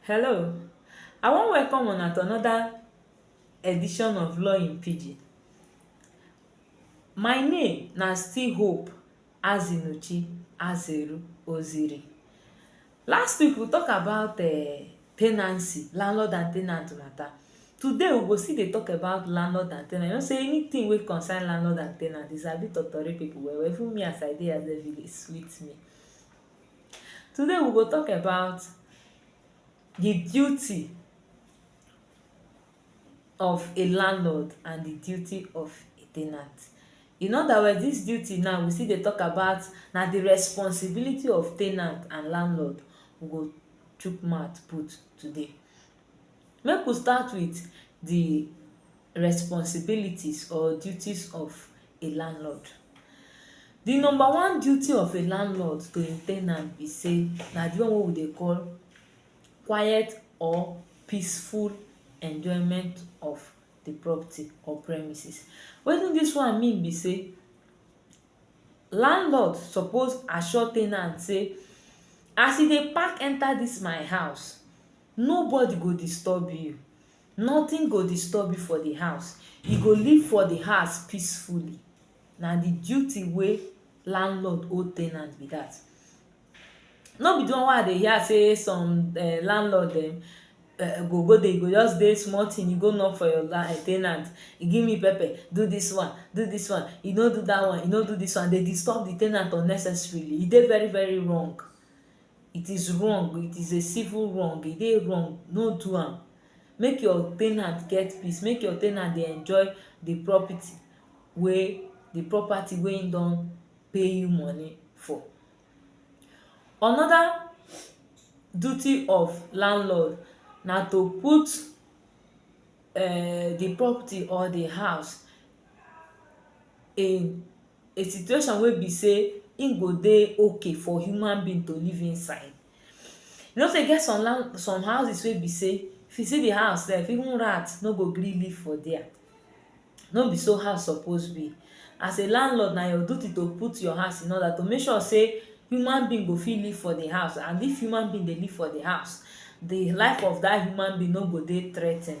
Hello, I wan welcome una to another edition of Law in Pidgin. My name na still Hope Azinuchi Azeru Oziri. Last week we talk about uh, tenancy, landlord and tenant matter. Today we go still dey talk about landlord and tenant. You know say anything wey concern landlord and tenant is a bit of tori people well well. Even me as I dey as a village sweet me. Today we go talk about the duty of a landlord and the duty of a ten ant. In other words, dis duty now we still dey talk about na the responsibility of ten ant and landlord we go chook mouth put today. Make we start with di responsibilities or duties of a landlord. Di number one duty of a landlord to im ten ant be sey na di one wey we dey call quiet or peaceful enjoyment of di property or premises. Wetin dis one mean be sey landlord suppose assure ten ant sey as you dey pack enter dis my house Nobody go disturb you. Nothing go disturb you for the house. You go live for the house peacefully. Na the duty wey landlord owe tenant be that. No be the one wey I dey hear say some um landlord dem um go go dey go just dey small thing, e go knock for your um tenant, e give me pepper, do this one, do this one, e no do that one, e no do this one, dey disturb the tenant unnecessarily. E dey very very wrong. it is wrong it is a civil wrong e dey wrong no do am make your ten ant get peace make your ten ant dey enjoy the property wey the property wey him don pay you money for another duty of landlord na to put um the property or the house in a situation wey be sey e go dey okay for human being to live inside you know sey e get some land some houses wey be sey if you see the house self even rat no go gree live for dere no be so house suppose be as a landlord na your duty to put your house in order to make sure sey human being go fit live for the house and if human being dey live for the house the life of that human being no go dey threatened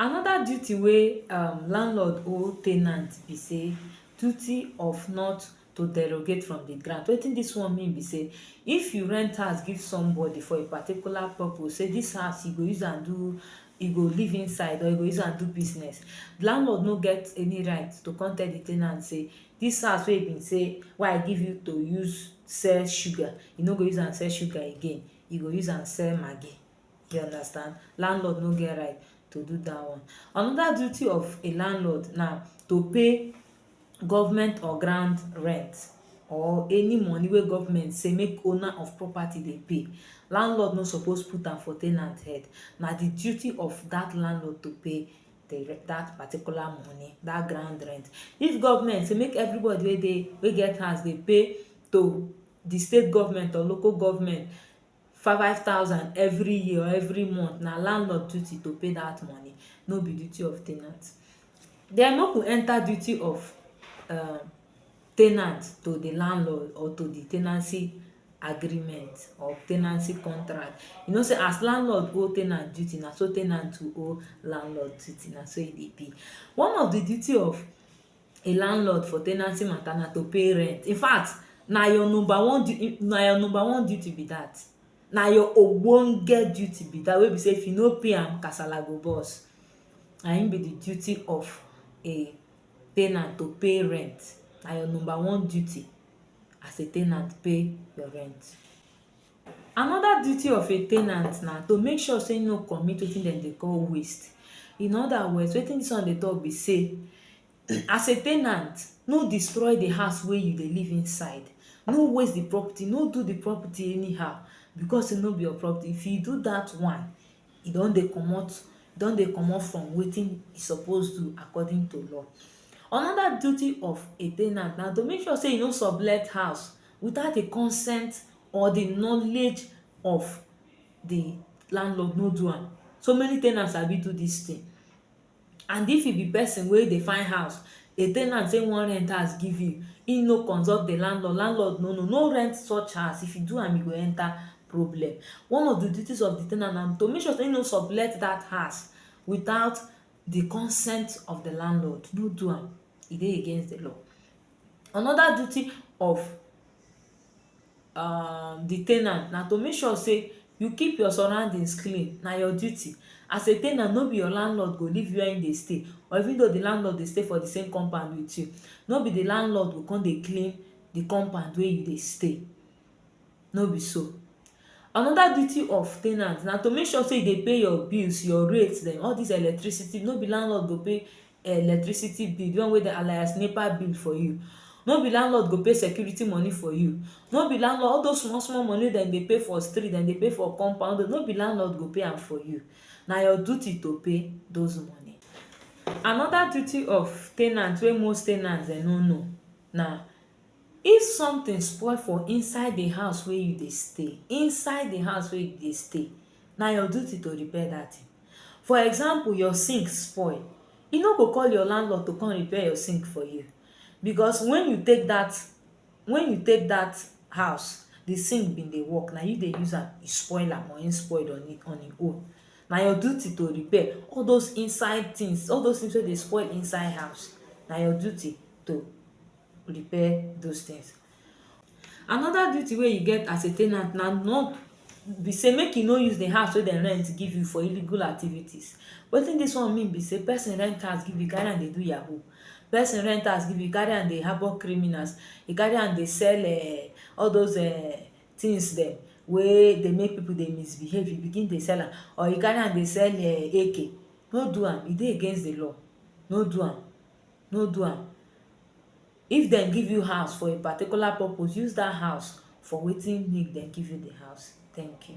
Anoda duty wey um landlord owe ten ant be sey duty of not to derogate from di grant. Wetin dis one mean be sey if you rent house give somebody for a particular purpose sey dis house you go use am do you go live inside or you go use am do business, landlord no get any right to come tell di ten ant sey dis house wey e been sey wey I give you to use sell sugar, you no go use am sell sugar again, you go use am sell maggi. you understand landlord no get right to do dat one. Anoda duty of a landlord na to pay government or ground rent or any money wey government say make owner of property dey pay landlord no suppose put am for ten ant head na di duty of dat landlord to pay dat particular money dat ground rent if government say make everybody wey dey wey get house dey pay to di state government or local government five five thousand every year or every month na landlord duty to pay that money no be duty of ten ant then make we enter duty of um ten ant to the landlord or to the ten ancy agreement or ten ancy contract you know say as landlord owe ten ant duty na so ten ant too owe landlord duty na so e dey be one of the duty of a landlord for tenancy matter na to pay rent. In fact, na your number one duty na your number one duty be that. Na your ogbonge duty be that wey be say if you no pay am, kasala go burst. Na im be the duty of a tenant to pay rent. Na your number one duty as a tenant pay your rent. Another duty of a ten ant na to make sure sey im no commit wetin dem dey call waste. In other words, wetin dis one dey talk be sey, as a ten ant, no destroy the house wey you dey live inside. No waste the property, no do the property anyhow because sey no be your property. If you do dat one, you don dey comot you don dey comot from wetin you suppose do according to law. Another duty of a ten ant na to make sure sey you no sublet house without the consent or the knowledge of the landlord no do am. So many ten ant sabi do dis thing. And if you be pesin wey dey find house, a ten ant say e wan rent house give you, e no consult the landlord, landlord no know, no rent such house. If you do am, you go enter problem. One of the duties of the ten ant na to make sure sey e no sublet dat house without the consent of the landlord. No do am. E dey against the law. Another duty of um di ten ant na to make sure say you keep your surroundings clean na your duty as a ten ant no be your landlord go leave where him dey stay or even though di landlord dey stay for di same compound with you no be di landlord go come dey clean di compound wey you dey stay no be so anoda duty of ten ant na to make sure say you dey pay your bills your rate dem all dis electricity no be landlord go pay electricity bill, the one wey dem alias NEPA bill for you. No be landlord go pay security money for you. No be landlord all those small small money wey dem dey pay for street, dem dey pay for compound road, no be landlord go pay am for you. Na your duty to pay those money. Another duty of ten ant wey most ten ant dem no know na If something spoil for inside the house wey you dey stay, inside the house wey you dey stay, na your duty to repair dat thing. For example, your sink spoil, you no go call your landlord to come repair your sink for you because when you take dat when you take dat house, the sink been dey work. Na you dey use am, you spoil am or im spoil on im on im own. Na your duty to repair. All those inside things, all those things wey dey spoil inside house, na your duty to repair those things. Another duty wey you get as a ten ant na not be sey make you no use the house wey dem rent give you for illegal activities. Wetin dis one mean be sey person rent house give you, carry am dey do yahoo. Person rent house give you, carry am dey harbor criminals. You carry am dey sell ern all dos ern things dem wey dey make people dey misbehave. You begin dey sell am. Or you carry am dey sell ern AK. No do am. E dey against the law. No do am. no do am if dem give you house for a particular purpose use that house for wetin make dem give you the house thank you